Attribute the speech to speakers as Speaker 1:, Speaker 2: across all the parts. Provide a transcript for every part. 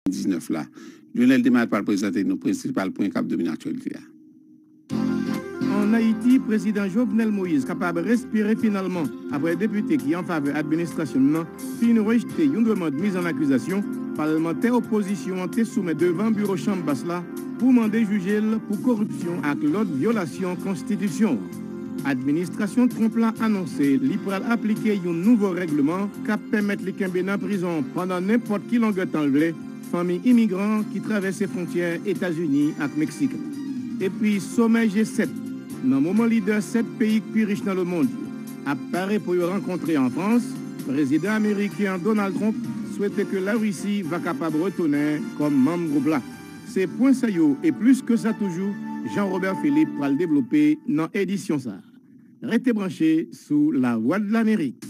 Speaker 1: 19 la. Jovenel te mare pral prezante nou prensipal pwen kap domine aktyalite a.
Speaker 2: An Ayiti, Prezidan Jovenel Moïse kapab respire finalman aprè depite ki an favè administrasyon n nan fin rejte yon demand miz an akizasyon palmantè opozisyon an te soumèt devan biwo chanm bas la pou mande jije l pou koripsyon ak lòt vyolasyon konstitisyon an. Administrasyon Trump la anonse li pral aplike yon nouvo règleman k ap pèmèt li kenbe nan prizon pandan nenpòt ki longè tan l vle fanmi imigran ki travèse fwontyè Etazini ak Meksik la. Epi somè G-7 nan moman lidè 7 peyi k pi rich nan lemond yo ap pare pou yo rankontre an Frans, prezidan ameriken an Donald Trump swete ke Larisi va kapab retounen kòm manm gwoup la. Se pwen sa yo e plis ke sa toujou Jean Robert Philippe pral devlope nan edisyon sa. Rete branche sou Lavwadlamerik.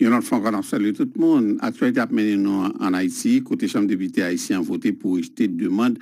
Speaker 1: Yon lòt fwa ankò n ap salye tout moun. Aktyalite ap mennen nou ann Ayiti, kote Chanm Depite ayisyen an vote pou rejte demand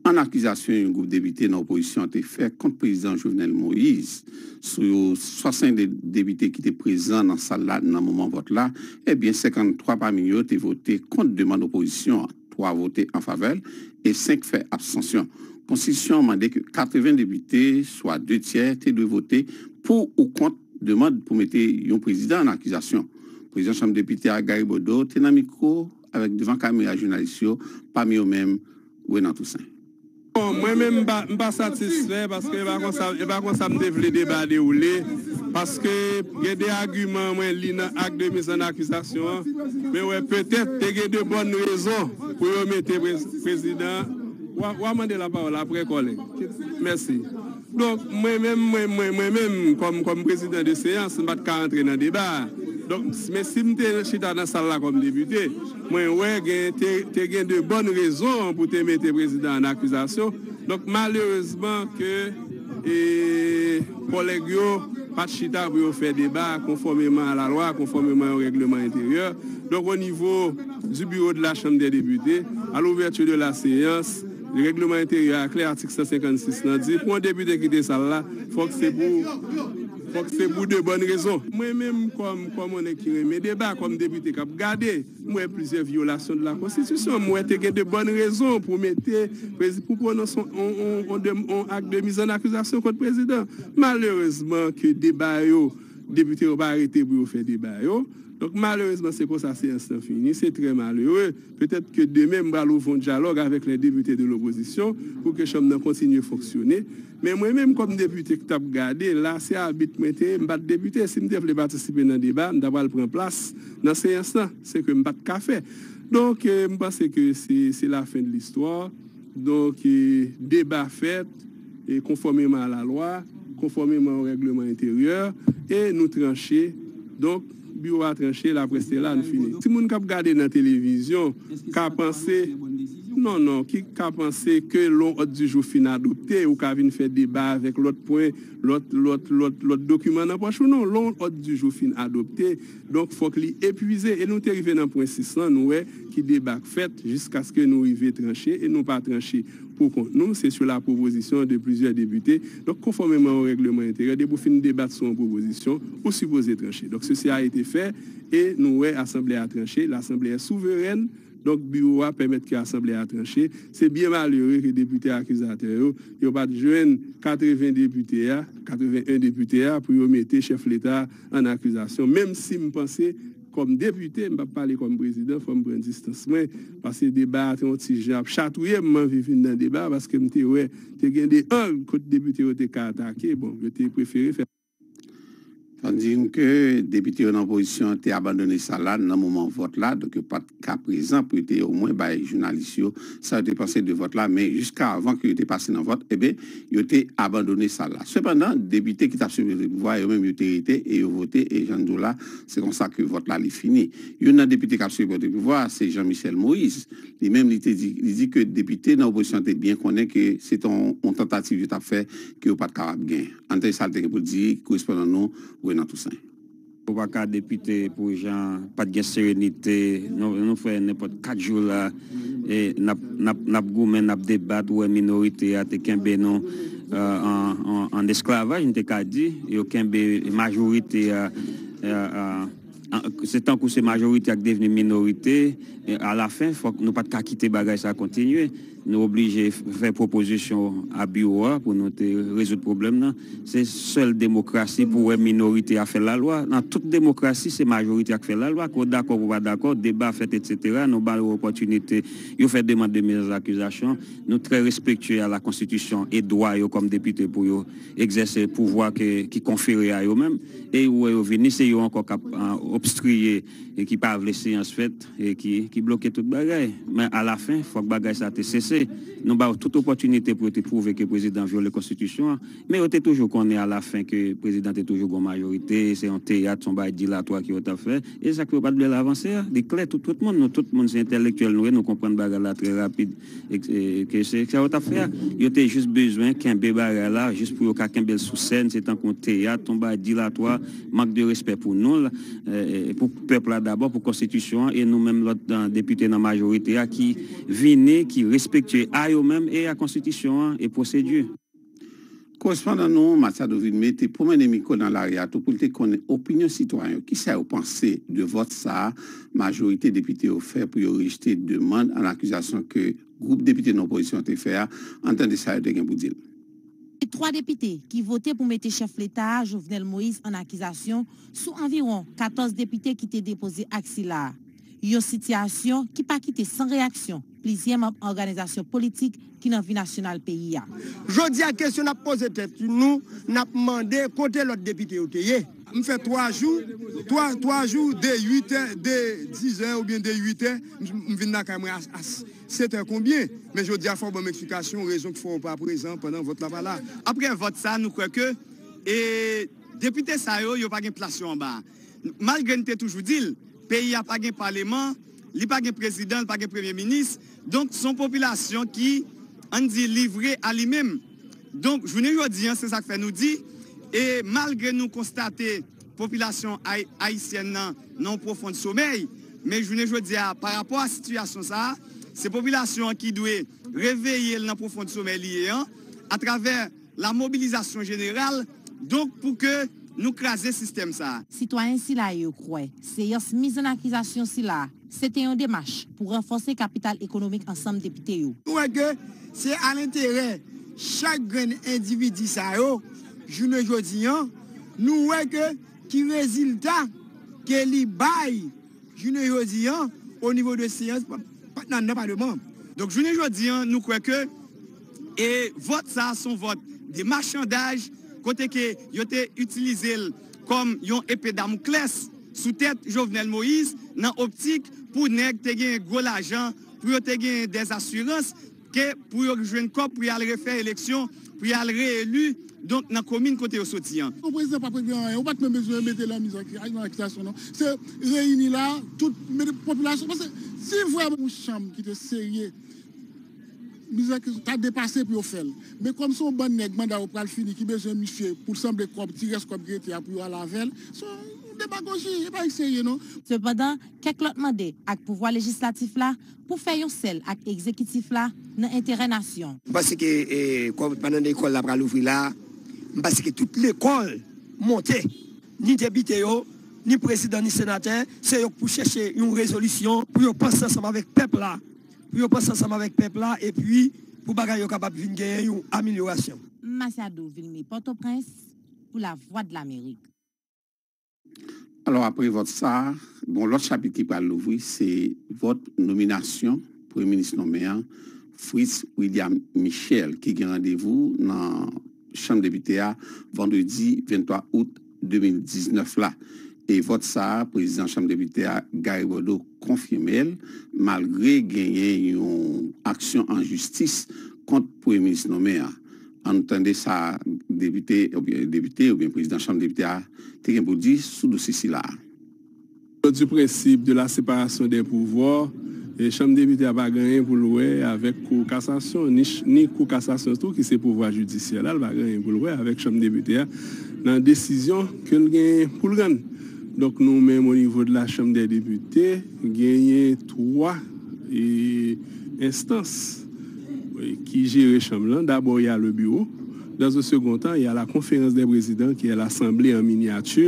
Speaker 1: an akizasyon yon gwoup depite nan opozisyon an te fè kont Prezidan Jovenel Moise. Sou 62 depite ki te prezan nan sal la nan moman vòt la, ebyen 53 pami yo te vote kont demand opozisyon an. 3 vote an favè l e 5 fè abstansyon. Konstitisyon an mande ke 80 depite, swa de tyè, te dwe vote pou ou kont demand pou mete yon prezidan an akizasyon. Prezidan Chanm Depite a, Gary Bodeau, te nan mikwo avèk devan kamera jounalis yo, pami yo menm Renan Toussaint. Bon mwen
Speaker 3: menm m pa satisfè paske e pa konsa e pa konsa m te vle deba a dewoule paske gen de agiman mwen li nan ak de miz an akizasyon an men wè petèt te gen de bòn rezon pou yo mete prezidan an. Wa mande lapawòl aprè kòlèg. Mèsi. Donk, mwen menm, mwen, mwen, mwen menm, kòm, kòm prezidan de seyans, m pa t ka antre nan deba a. Donk, men si m te chita nan sal la kòm depite, mwen wè gen, te, te gen de bòn rezon pou te mete prezidan an akizasyon. Donk, malerezman ke, e, kòlèg yo pa t chita pou yo fè deba konfòmeman a la lwa, konfòmeman yon règleman enteryè. Donk, onivo di biwo de la Chanm dè Depite, a louvèti de la seyans, Regleman enteryè a klè atik 156 lan di pou yon depite kite sal la fòk se pou fòk se pou de bòn rezon. Mwen menm kòm kòm yon nèg ki renmen deba kòm depite kap gade m wè plizyè vyolasyon de la konstitisyon m wè te gen de bòn rezon pou mete prezi pou pwononse yon yon de yon ak de mizannakizasyon kont prezidan malerezman ke deba yo depite yo pa rete pou yo fè deba yo donk malerezman se konsa seyans lan fini se trè malere. Petèt ke demen m pral ouvon dyalòg avèk lè depite de lopozisyon pou ke chanm nan kontinye fonksyone, men mwen menm kòm depite k t ap gade, la se abit mwen te ye, m pa t depite, si m te vle patisipe nan deba, m ta pral pran plas nan seyans lan, se ke m pa t ka fè. Donk, m panse ke se la fen de listwa, donk deba fèt. konfòmeman a la lwa, konfòmeman o règleman enteryè, e nou tranche, donk, biwo a tranche, la presse est là, nou fini. Timoun k ap gade nan televizyon ka panse, non, non, ki ka panse ke lè yon òd di jou fin adopte, ou ka vin fè deba avèk lòt pwen, lòt, lòt, lòt, lòt dokiman nan pòch ou, non, lè yon òd di jou fin adopte, Donk fòk li epwize e nou te rive nan pwen 6 lan nou wè ki deba k fèt jiskaske nou rive tranche e nou pa tranche pou kont nou se sou la pwopozisyon de plizyè depite donk konfòmeman o règleman enteryè depi w fin debat sou yon pwopozisyon ou sipoze tranche donk sesi a ete fè e nou wè asanble a tranche lasanble è souverèn Donk biwo a pèmèt ke asanble a tranche. Se byen malere ke depite akizatè yo, yo pa t jwenn 80 depite a, 81 depite a, pou yo mete chèf leta a an akizasyon. Menm si m panse kòm depite, m p ap pale kòm prezidan, fò m pran distans mwen, paske deba a te yon ti jan ap chatouye m, m anvi vin nan deba a, paske m te wè te gen 2 ang kote depite yo te ka atake, bon, yo te prefere fè. Fò n di
Speaker 1: nou ke depite yo nan opozisyon an te abandone sal la nan moman vòt la, donk yo pa t ka prezan pou yo te omwen bay jounalis yo sa yo te panse de vòt la, men jiska avan ke yo te pase nan vòt, enben yo te abandone sal la. Sepandan, depite ki t ap sipoze pran pouvwa yo menm yo te rete e yo vote e jan n di w la, se konsa ke vòt la li fini. Youn nan depite k ap sipoze pran pouvwa a se Jean Michel Moïse, li menm li te di, li di ke depite nan opozisyon an te byen konnen ke se te yon tantativ yo t ap fè ke yo pa t kapab gen. An tèt sa l te gen pou l di korespondan nou Renan Toussaint. Ou pa ka
Speaker 4: depite pou jan pat gen serenite nou fè nenpòt 4 jou la nap goumen nap debat ou wè minorite a te kenbe nou an esklavaj m te ka di yo kenbe majorite a Se tankou se majorite ak devni minorite, alafen fòk nou pa t ka kite bagay sa kontinye. Nou oblije fè pwopozisyon a biwo a pou nou te rezoud pwoblèm nan. Se sèl demokrasi pou wè minorite a fè lalwa. Nan tout demokrasi se majorite a k fè lalwa. Ke w dakò ke w pa dakò, deba fèt etsetera, nou ba yo opòtinite, yo fè demand de mezakizasyon. Nou trè respektye a lakonstitisyon e dwa yo kòm depite pou yo egzèse pouvwa ki konfere a yo menm. Ey ou wè yo vini se yo ankò kap obstriye ki pa vle seyans fèt ki bloke tout bagay men a la fen fòk bagay sa te sese nou ba yo tout opòtinite pou yo te pwouve ke prezidan vyole konstitisyon an men yo te toujou konnen a la fen ke prezidan te toujou gon majorite se yon teyat son bagay dilatwa ke yo tap fè e sak fè yo pat vlel avanse a li klè tout tout moun nou tout moun se entèlektyèl nou ye nou konprann bagay la trè rapid. Ke se sa yo tap fè a. Yo te jis bezwen kenbe bagay la jis pou yo ka kenbe l sou sèn, se tankou yon teyat, yon bagay dilatwa, mank de respè pou nou l, pou pèp la dabò, pou konstitisyon an e nou menm lòt depite nan majorite a ki vini, ki respektye a yo menm e a konstitisyon an e pwosedi.
Speaker 1: Korespondan nou, Machado Vilmé, te pwomennen mikwo nan lari a tou pou l te konnen opinyon sitwayen yo, kisa yo panse de vòt sa a majorite depite yo fè pou yo rejte demand an akizasyon ke gwoup depite nan opozisyon an te fè a. Ann tande sa yo te gen pou di l. Gen 3
Speaker 5: depite ki vote pou mete chèf leta a, Jovenel Moïse an akizasyon sou anviwon 14 depite ki te depoze ak sila a. Yon sitiyasyon ki pa kite san reyaksyon plizyè manm òganizasyon politik ki nan vi nasyonal peyi a. Jodi a
Speaker 6: kesyon n ap poze tèt nou, n ap mande kote lòt depite yo te ye? M fè 3 jou, 3 jou de 8 è, de 10 è oubyen de 8 è, m vin lakay mwen a 7 è konbyen? Men jodi a fò w ban m eksplikasyon rezon ki fè w pa prezan pandan vòt la pa la. Aprè vòt sa nou kwè ke depite sa yo, yo pa gen plas yo anba a. Malgre n te toujou di l, peyi a pa gen paleman, li pa gen prezidan, li pa gen premye minis, donk s on popilasyon ki, ann di, livre a li menm. Donk, jounen jodi an, se sa k fè nou di, e malgre nou konstate popilasyon ayisyèn nan nan yon pwofon somèy, men jounen jodi a, pa rapò a sitiyasyon sa a, se popilasyon an ki dwe reveye l nan pwofon somèy li ye an, atravè. La mobilisation general donc pou ke nou kraze sistèm sa. Sitwayen sila yo
Speaker 5: kwè seyans mizannakizasyon sila se te yon demach pou ranfòse kapital ekonomik ansanm depite yo. Nou wè ke se
Speaker 6: a lenterè chak grenn endividi sa yo jounen jodi an nou wè ke ki rezilta ke li bay jounen jodi an o nivo de seyans pa nan nan paleman. Donk jounen jodi an nou kwè ke. E vòt sa son vòt de machandaj kote ke yo te itilize l kòm yon epe damouklès sou tèt Jovenel Moïse nan optik pou nèg te genyen gwo lajan pou yo te genyen dè asirans ke pou yo jwenn kòb pou y al refè eleksyon pou y al re-eli donk nan komin kote yo soti an. Yon prezidan pap regle anyen.
Speaker 7: Ou pat menm bezwen mete lan miz ak lan akizasyon non. Se reyini la tout mete popilasyon paske si vrèman yon chanm ki te serye. Mizè ki ta depase pou yo fèl. Men kòm se yon bann nèg manda yo pral fini ki bezwen misye poul sanble kòb ti rès kòb ki rete a pou yo al avèl. Se yon demagoji e bagay serye non. Sepandan, kèk
Speaker 5: lòt mande ak pouvwa lejislatif la pou fè yon sèl ak egzekitif la nan enterè nasyon. M panse ke
Speaker 6: kòm pandan lekòl la pral ouvri la, m panse ke tout lekòl monte, ni depite yo, ni prezidan, ni senatè, se yo k pou chèche yon rezolisyon pou yo panse ansanm avèk pèp la. pou yo panse ansanm avèk pèp la epi pou bagay yo kapab vin genyen yon amilyorasyon. M. Machado Vilme
Speaker 5: Pòtoprens pou Lavwadlamerik.
Speaker 1: Alò apre vòt sa a, gon lòt chapit ki pral louvri, se vòt nominasyon Premye Minis nonmen an, Fritz William Michel ki gen randevou nan Chanm Depite a vandredi 23 out. 2019 la e vòt sa a prezidan chanm depite a Gary Bodeau konfime l malgre genyen yon aksyon an jistis kont premye minis nome a. An nou tande sa depite oubyen prezidan chanm depite a te gen pou l di sou dosye sila a. Onon di
Speaker 3: prensip de la separasyon dè pouvwa, chanm depite a pa gen anyen pou l wè avèk kou kasasyon, ni kou kasasyon tou ki se pouvwa jidisyè la, l pa gen anyen pou l wè avèk chanm depite a nan desizyon ke l genyen pou l rann. Donk nou menm onivo de la chanm dè depite genyen 3 enstans ki jere chanm lan, dabò y a le biwo, dans un second temps y a la konferans dè prezidan ki è lasanble an minyati.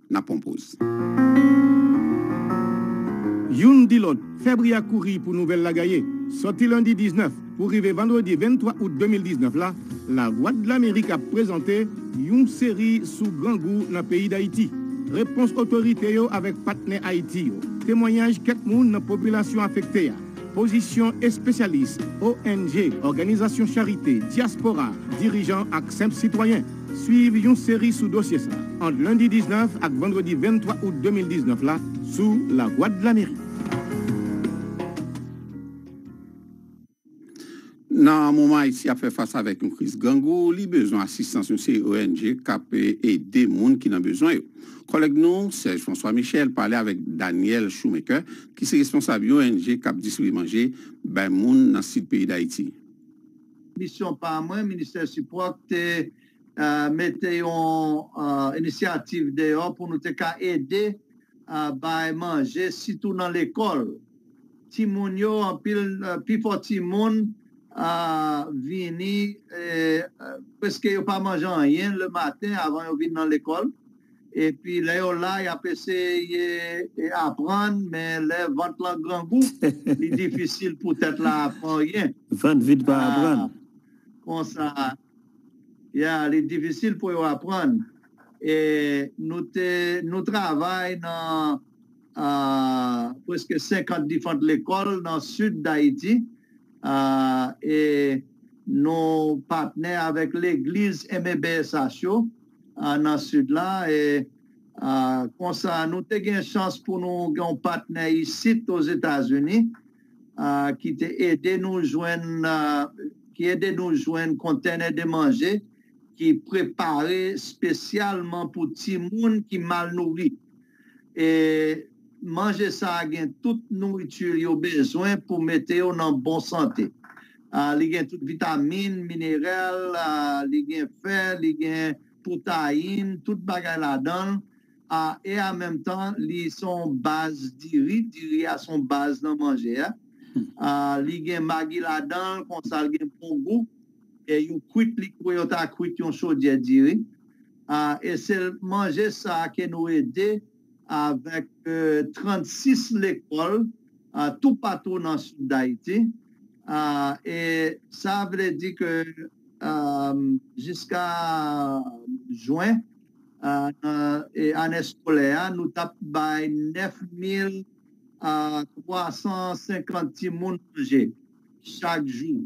Speaker 1: na pwan poz.
Speaker 2: Youn di lòt, febri a kouri pou nouvèl la gaye. Sòti lendi 19 pou rive vandredi 23 out 2019 la, Lavwadlamerik ap prezante yon seri sou grangou nan peyi Dayiti. Repons otorite yo avèk patnè Ayiti yo, temwanyaj kèk moun nan popilasyon afekte a, pozisyon espesyalis, ONG, òganizasyon charite, dyaspora, dirijan ak senp sitwayen. Swiv yon seri sou dosye sa ant lendi 19 ak vandredi 23 out 2019 la sou Lavwadlamerik.
Speaker 1: Nan moman Ayiti ap fè fas avèk yon kriz grangou, li bezwen asistans yon seri ong k ap ede moun ki nan bezwen yo. Kòlèg nou, Serge François Michel, pale avèk Daniel Shoemaker, ki se responsab yon ong k ap distribye manje bay moun nan sid peyi Dayiti. Misyon
Speaker 8: pa mwen, Ministè Sipò k te mete yon inisyativ deyò pou nou te ka ede bay manje sitou nan lekòl. Timoun yo, anpil, pifò timoun vini, prèske yo pa manje anyen le maten avan yo vin nan lekòl. Epi lè yo la yap eseye aprann men lè vant lan grangou li difisil pou tèt la aprann anyen. Vant vid pa
Speaker 4: aprann. Konsa
Speaker 8: ya li difisil pou yo aprann. E nou te nou travay nan preske 50 difant lekòl nan sid Dayiti e nou patnè avèk legliz MBSH yo. nan Sid la. E konsa, nou te gen chans pou nou gen yon patnè isit Ozetazini ki te ede nou jwenn, ki ede nou jwenn kontènè de manje ki prepare spesyalman pou timoun ki mal nouri. e manje sa a gen tout nouriti yo bezwen pou mete yo nan bon sante. Li gen tout vitamin, mineral, li gen fè, li gen pwotayin, tout bagay ladan l, e an menm tan li se yon baz diri, diri a se yon baz nan manje a. Li gen magi ladan l, konsa li gen bon gou. E yo kwit li kouman yo ta kwit yon chodyè diri. E se manje sa a ke nou ede avèk 36 lekòl toupatou nan Sid Dayiti. E sa vle di ke jiska jwen ane skolè a, nou t ap bay 9350 timoun manje. chak jou,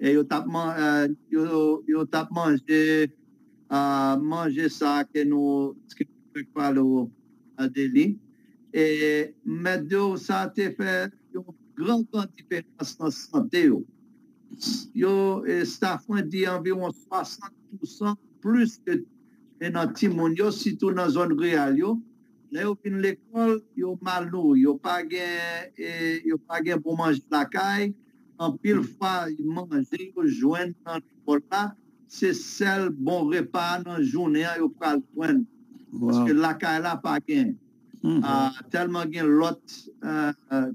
Speaker 8: e yo t ap manje manje sa a ke nou fèk pale w de li. E m mèt di w, sa te fè yon gran gran diferans nan sante yo. Yo, staff mwen di anviwon 60 pousan plis ke nan timoun yo, sitou nan zòn riral yo. lè yo fin lekòl yo mal nouri, yo pa gen yo pa gen bon manje lakay, anpil fwa manje yo jwenn nan lekòl la se sèl bon repa nan jounen an yo pral jwenn paske lakay la pa gen tèlman gen lòt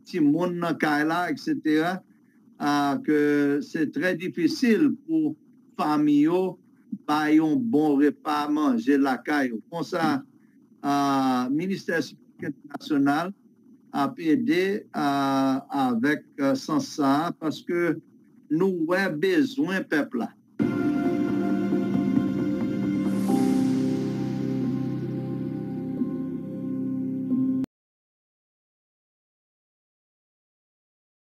Speaker 8: timoun nan kay la eksetera. ke se trè difisil pou fanmi yo bay yon bon repa manje lakay yo. Konsa, Ministè Sipòt Entènasyonal ap ede avèk sans sa a, paske nou wè bezwen pèp la.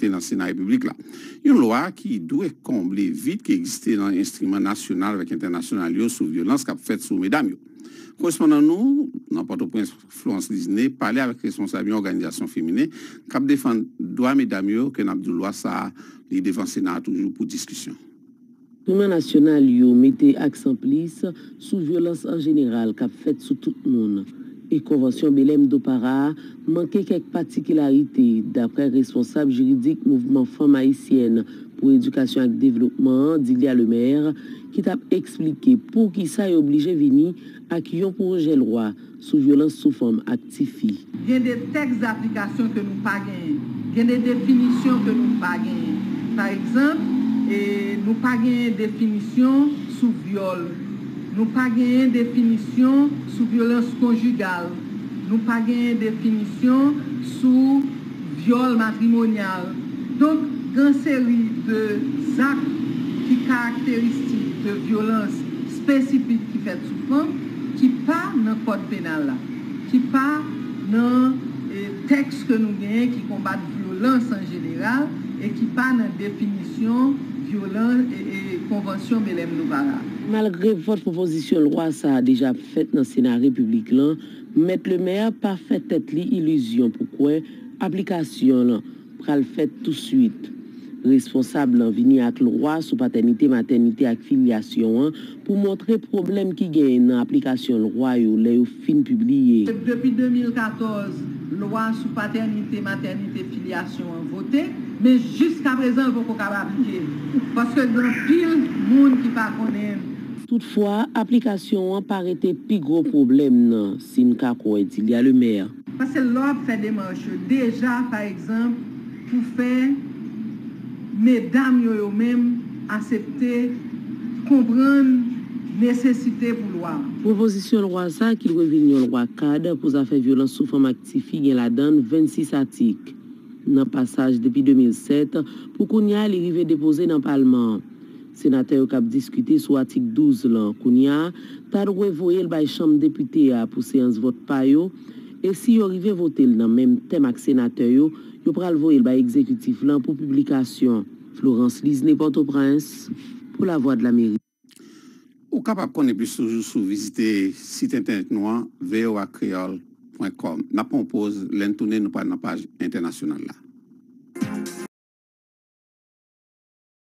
Speaker 1: te nan Sena Repiblik la. Yon lwa ki dwe konble vid ki egziste nan enstriman nasyonal avèk entènasyonal yo sou vyolans k ap fèt sou medam yo. Korespondan nou nan Pòtoprens, Florence Lisené, pale avèk responsab yon òganizasyon feminen k ap defann dwa medam yo ke n ap di w lwa sa a li devan Sena a toujou pou diskisyon. Iman
Speaker 9: nasyonal yo mete aksan plis sou vyolans an jeneral k ap fèt sou tout moun, e Konvansyon Belèm do Para a manke kèk patikilarite, daprè responsab jiridik Mouvman Fanm Ayisyèn pou Edikasyon ak Devlopman an, Dilia Lemaire, ki t ap esplike poukisa yo blije vini Ak yon pwojè lwa sou vyolans sou fanm ak ti fi. Gen de
Speaker 10: tèks daplikasyon ke nou pa genyen. Gen de definisyon ke nou pa genyen. Pa egzanp, nou pa genyen definisyon sou vyòl. Nou pa genyen definisyon sou vyolans konjigal. Nou pa genyen definisyon sou. vyòl matrimonyal, donk gan seri de zak ki karakteristik de vyolans espesifik ki fèt sou fanm ki pa nan kòd penal la, ki pa nan tèks ke nou genyen ki konbat vyolans an jeneral e ki pa nan definisyon vyolan e konvansyon Belèm-Douvara. Malgre vòt
Speaker 9: pwopozisyon lwa sa a deja ap fèt nan Sena Repiblik lan, Mèt Lemaire pa fè tèt li ilizyon pou kwè aplikasyon lan pral fèt touswit. Responsab lan vini ak lwa sou patènite-matènite ak filyasyon an pou montre pwoblèm ki genyen nan aplikasyon lwa yo lè yo fin pibliye. Se depi 2014
Speaker 10: lwa sou patènite-matènite-filyasyon an vote, men jiskaprezan l poko kab aplike, paske gen anpil moun ki pa konnen l. Toutfwa,
Speaker 9: aplikasyon an pa rete pi gwo pwoblèm nan, si n ka kwè Dilya Lemè. Pase lè w ap fè
Speaker 10: demach yo deja, pa egzanp, pou fè medam yo yo menm asepte konprann nesesite pou lwa an. Pwopozisyon lwa
Speaker 9: sa a ki dwe vin yon lwa kad pou zafè vyolans sou fanm ak tifi gen ladan l 26 atik. Nan pasaj depi 2007, pou kounya li rive depoze nan palman an. Senatè yo k ap diskite sou atik 12 lan kounya a ta dwe voye l bay Chanm Depite a pou seyans vòt pa yo, e si yo rive vote l nan menm tèm ak senatè yo, yo pral voye l bay egzekitif lan pou piblikasyon. Florence Lisne Pòtoprens pou Lavwadlamerik. Ou
Speaker 1: kapab konnen plis toujou sou vizite sit entènèt nou an voakreol pwen kòm. N ap pran yon poz, lè n tounen nou pral nan paj entènasyonal la.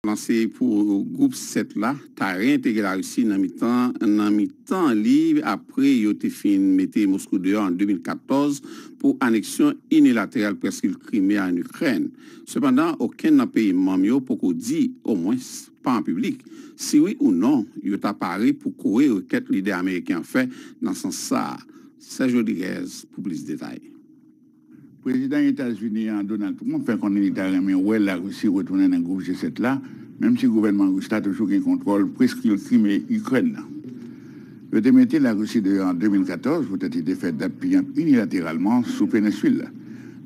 Speaker 1: Plan se pou gwoup 7 la ta reyentegre Larisi nan mitan nan mitan li apre yo te fin mete Moskou deyò an 2014 pou aneksyon inilateral Prèskil Krime a an Ikrèn. Sepandan, okenn nan peyi manm yo poko di, omwens pa an piblik, si wi ou non yo ta pare pou kore rekèt lidè ameriken an fè nan sans sa a. Serge Rodriguez pou plis detay.
Speaker 11: Prezidan Etazini an, Donald Trump, fè konnen li ta renmen wè Larisi retounen nan gwoup G-7 la, menm si gouvènman ris la toujou gen kontwòl preskil Krime Ikrèn nan. Yo te mete Larisi deyò an 2014 poutèt li te fè dat piyanp inilateralman sou penensil la,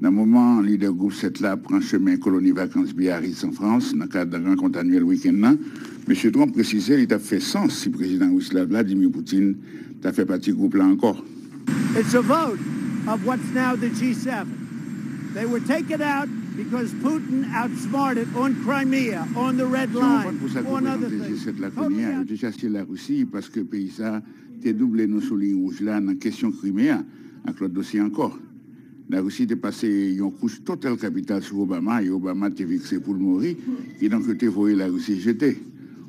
Speaker 11: nan moman lidè gwoup 7 la ap pran chemen koloni vakans Biarritz an Frans nan kad rankont anyèl wikenn nan. Mesye Trump presize li t ap fè sans si prezidan ris la, Vladimir Putin, ta fè pati gwoup la ankò. It's a
Speaker 12: vote of what's now the G7. They were taken out because Putin outsmarted on Crimea, on the Red Line, on other things. Se yon fòt pou sa k reprezante G7 la kounye a. Yo te chache
Speaker 11: Larisi paske peyi sa te double nou sou liy wouj la nan kesyon Krime a ak lòt dosye ankò. Larisi te pase yon kouch total kapital sou Obama e Obama te fikse pou l mouri, kidonk yo te voye Larisi jete.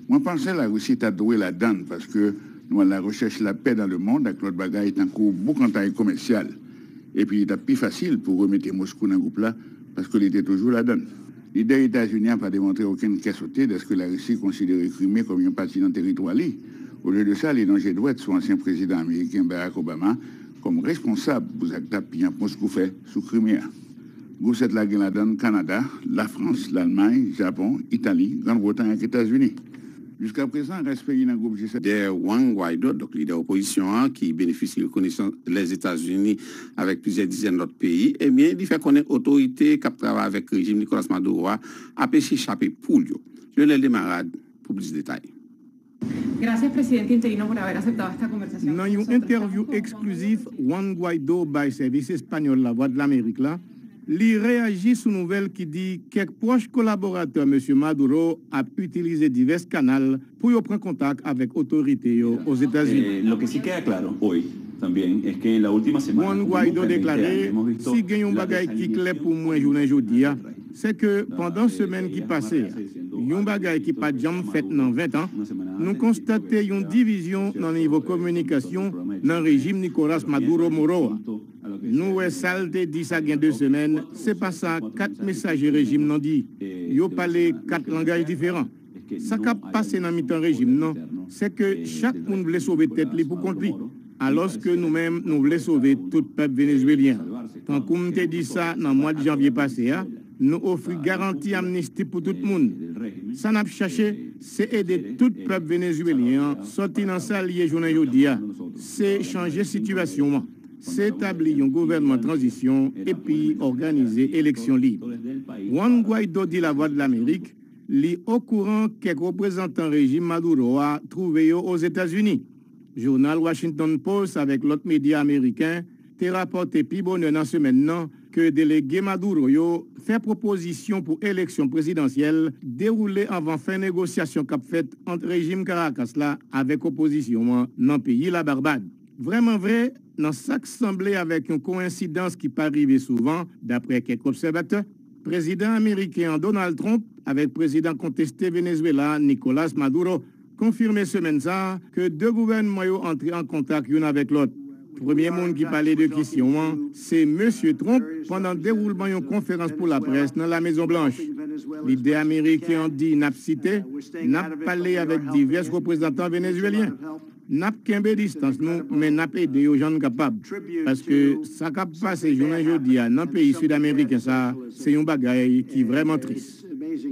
Speaker 11: Mwen panse Larisi ta dwe ladan l paske nou alarechèch lapè dan lemond ak lòt bagay tankou boukantay komèsyal. Epi li t ap pi fasil pou remete Moskou nan gwoup la paske li te toujou ladan l. Lidè Etazini a pa demontre okenn kè sote dèske Larisi konsidere Krime kòm yon pati nan teritwa li. Olye de sa, li lonje dwèt sou ansyen prezidan ameriken Barack Obama Kòm responsab pou zak dap piyanp Moskou fè sou Krime a, gwoup 7 la gen ladan l Kanada, Lafrans, Lalmay, Japon, Itali, Grann Bretay ak Etazini. Jiskaprezan, rès peyi nan gwoup G7. Dè Juan Guaido,
Speaker 1: donk lidè opozisyon an ki benefisye rekonesans Lèzetazini avèk plizyè dizèn lòt peyi, ebyen li fè konnen otorite k ap travay avèk rejim Nicolas Maduro a ap esye chape poul yo. Lyonel Desmarades pou plis detay. Gracias
Speaker 13: presidente interino por haber aceptado esta conversación Nan yon entèvyou
Speaker 2: eksklizif Juan Guaido bay sèvis espanyòl Lavwadlamerik la, li reyaji sou nouvèl ki di kèk pwòch kolaboratè Mesye Maduro ap itilize divès kanal pou yo pran kontak avèk otorite yo Ozetazini.
Speaker 14: Juan Guaido deklare,
Speaker 2: Si gen yon bagay ki klè pou mwen jounen jodi a, Se ke pandan semèn ki pase a, yon bagay ki pa t janm fèt nan ventan, nou konstate yon divizyon nan nivo kominikasyon nan rejim Nicolas Maduro Moro a. Nou wè sa l te di sa gen 2 semèn, se pa sa 4 mesaje rejim nan di. Yo pale 4 langaj diferan. Sa kap pase nan mitan rejim nan, se ke chak moun vle sove tèt li pou kont li, alòs ke nou menm nou vle sove tout pèp Venezuelyen an. Tankou m te di sa nan mwad janvye pase a, nou ofri garanti amnisti pou tout moun. Sa nap chache, se ede tout pèp Venezuelyen an sòti nan sa l ye jounen jodi a, se chanje sitiyasyon an, se tabli yon gouvènman tranzisyon epi òganize eleksyon lib. Juan Guaido di Lavwadlamerik. Li okouran kèk reprezantan rejim Maduro a twouve yo Ozetazini. Jounal Washington Post avèk lòt medya ameriken te rapòte pi bonè nan semèn nan ke delege Maduro yo fè pwopozisyon pou eleksyon prezidansyèl dewoule anvan fen negosyasyon kap fèt ant rejim Karakas la avèk opozisyon an nan peyi La Barbad. Vrèman vre, nan sak sanble avèk yon koensidans ki pa rive souvan, daprè kèk obsèvatè, Prezidan ameriken an Donald Trump avèk prezidan konteste Venezuela a Nicolas Maduro konfime semèn sa a ke 2 gouvènman yo antre an kontak youn avèk lòt. Premye moun ki pale de kesyon an se Mesye Trump pandan dewoulman yon konferans pou laprès nan La Mezon Blanch. Lidè ameriken an di, nap site, Nap pale avèk divès reprezantan venezuelyen. N ap kenbe distans nou, men n ap ede yo jan n kapab. Paske sa k ap pase jounen jodi a nan peyi sidameriken sa a se yon bagay ki vrèman tris.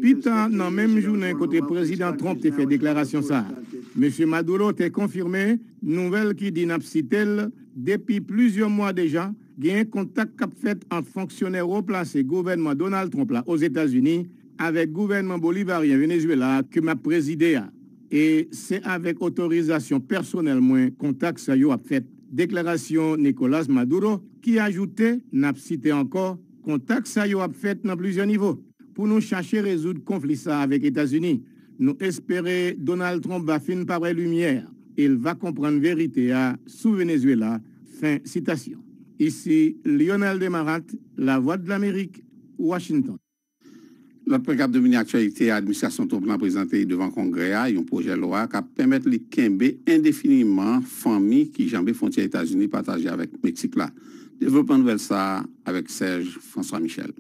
Speaker 2: Pi ta nan menm jounen kote Prezidan Trump te fè deklarasyon sa a, Mesye Maduro te konfime nouvèl ki di, n ap site l, Depi plizyè mwa deja, genyen kontak k ap fèt ant fonksyonè wo plase gouvènman Donald Trump la Ozetazini avèk gouvènman bolivaryen Venezuela a ke m ap prezide a. E se avèk otorizasyon pèsonèl mwen kontak sa yo ap fèt, deklarasyon Nicolas Maduro ki ajoute, n ap site ankò, Kontak sa yo ap fèt nan plizyè nivo pou nou chache rezoud konfli sa avèk Etazini. Nou espere Donald Trump va fin pa wè limyè e l va konprann verite a sou Venezuela. Fen sitasyon. Isi Lyonel Desmarattes, Lavwadlamerik, Washington. Lòt
Speaker 1: pwen k ap domine aktyalite a, administrasyon Trump lan prezante devan Kongrè a yon pwojè lwa k ap pèmèt li kenbe endefiniman fanmi ki janbe fwontyè Etazini pataje avèk Meksik la. Devlopman nouvèl sa a avèk Serge François Michel.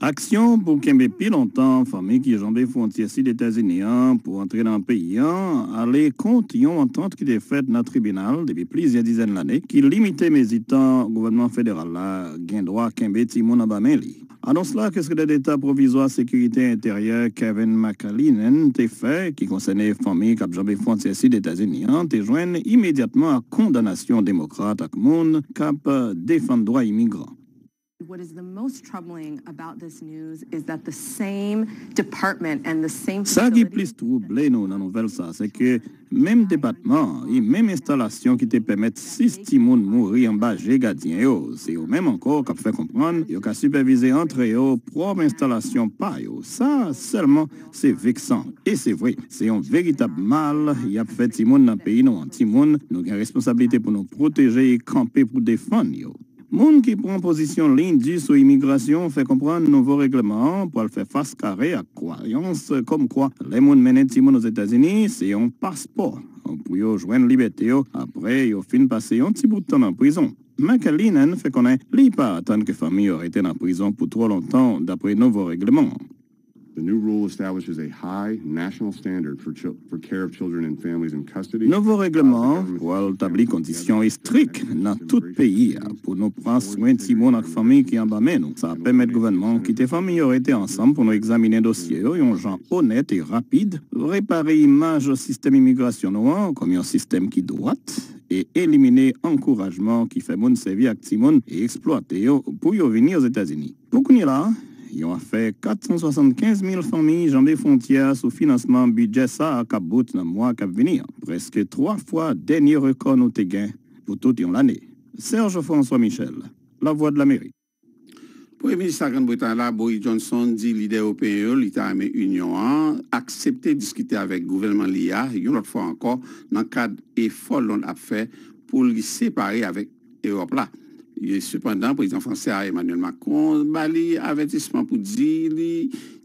Speaker 1: Aksyon
Speaker 15: pou kenbe pi lontan fanmi ki janbe fwontyè sid Etazini an pou antre nan peyi an ale kont yon antant ki te fèt nan tribinal depi plizyè dizèn lane ki limite mezi tan gouvènman federal la gen dwa kenbe timoun anba men li. Anons la ke Sekretè Deta Pwovizwa Sekirite Enteryè Kevin McAleenan te fè, ki konsène fanmi k ap janbe fwontyè sid Etazini an, te jwenn imedyatman ak kondanasyon Demokrat ak moun k ap defann dwa imigran.
Speaker 16: Sa ki plis twouble
Speaker 15: nou nan nouvèl sa a, se ke Menm depatman an e menm enstalasyon ki te pèmèt 6 timoun mouri anba je gadyen yo, se yo menm ankò k ap fè konprann yo ka sipèvize antre yo pwòp enstalasyon pa yo. Sa sèlman se veksan e se vre, se yon veritab mal y ap fè timoun nan peyi nou an, timoun nou gen responsablite pou nou pwoteje e kanpe pou defann yo. Moun ki pran pozisyon liy di sou imigrasyon fè konprann nouvo règleman an pral fè fas kare ak kwayans kòmkwa lè moun mennen timoun Ozetazini se yon paspò pou yo jwenn libète yo apre yo fin pase yon ti bout tan nan prizon. McAleenan fè konnen li pa atann ke fanmi yo rete nan prizon pou twò lontan dapre nouvo règleman an. Nouvo
Speaker 17: règleman an pral
Speaker 15: tabli kondisyon estrik nan tout peyi a pou nou pran swen timoun ak fanmi ki anba men nou. Sa ap pèmèt gouvènman an kite fanmi yo rete ansanm pou nou egzaminen dosye yo yon jan onèt e rapid, repare imaj sistèm imigrasyon nou an kòm yon sistèm ki dwat, e elimine ankourajman ki fè moun sèvi ak timoun e eksplwate yo pou yo vini Ozetazini. Pou kounye la, yon afè 475 mil fanmi janbe fwontyè a sou finansman bidjè sa a k ap bout nan mwa k ap vini an, prèske twa fwa dènye rekò nou te gen pou tout yon lane. Serge François Michel, Lavwadlamerik. Premye
Speaker 1: minis La Grand Bretay la, Boris Johnson, di lidè ewopeyen yo li ta renmen Inyon an aksepte diskite avèk gouvènman li a yon lòt fwa ankò nan kad efò Lond ap fè pou li separe avèk Ewòp la. Sepandan, prezidan fransè a, Emmanuel Macron, ba li avètisman pou di li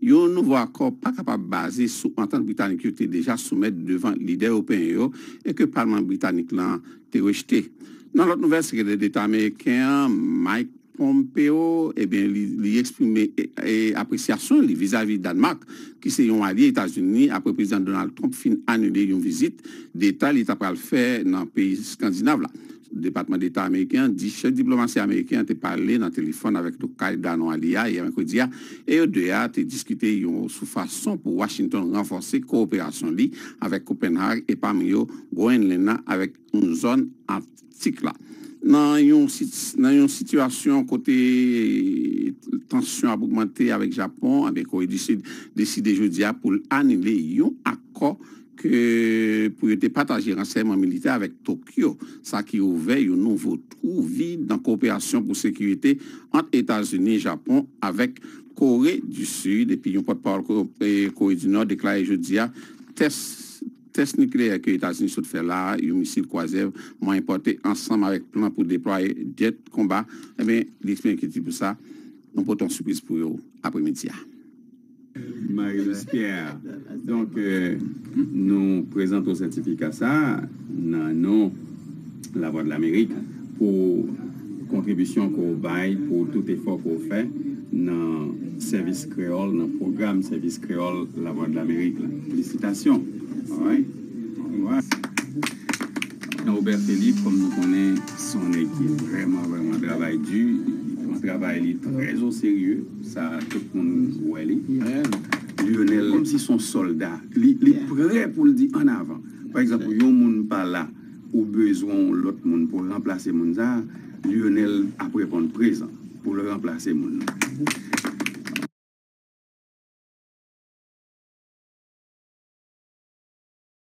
Speaker 1: yon nouvo akò pa kapab baze sou antant britanik yo te deja soumèt devan lidè ewopeyen yo e ke palman britanik lan te rejte. Nan lòt nouvèl, sekretè deta ameriken an, Mike Pompeo, ebyen li eksprime apresyasyon li vizavi Danemark ki se yon alye Etazini apre prezidan Donald Trump fin anile yon vizit deta li ta pral fè nan peyi skandinav la. Depatman Deta Ameriken an di chèf diplomasi ameriken an te pale nan telefòn avèk tokay Danoa li a yè mèkredi a e yo 2 a te diskite yon sou fason pou Washington ranfòse kowoperasyon li avèk Kopenhag e pami yo Groenland nan avèk yon zòn Arktik la nan yon nan yon sitiyasyon kote tansyon ap ogmante avèk Japon anben Kore di Sid deside jodi a pou l anile yon akò ke pou yo te pataje ransèyman militè avèk Tokyo, sa ki ouvè yon nouvo twou vid nan kowoperasyon pou sekirite ant Etazini, Japon avèk Kore di Sid, epi yon pòtpawòl Kore di Nò deklare jodi a tès tès nikleyè ke Etazini sot fè la a, yon misil kwazyè mwayen pòte ansanm avèk plan pou deplwaye djèt konba, enben li eksprime enkyetid pou sa, nou pote yon sipriz pou yo apremidi a.
Speaker 18: Marilus Pierre, Donk, nou prezante w sètifika sa a nan non Lavwadlamerik pou kontribisyon ke w bay pou tout efò ke w fè nan sèvis kreyòl, nan pwogram sèvis kreyòl Lavwadlamerik la. Felisitasyon! All right. All right. Robert Philippe, kòm nou konnen, se yon nèg ki vrèman, vrèman travay di. Li pran travay li trè o serye. Sa tout moun wè li. Lionel kòm si son sòlda li prè poul di an avan pa egzanp yon moun pa la ou bezwen yon lòt moun pou ranplase moun sa Lionel ap reponn prezan poul ranplase moun nan.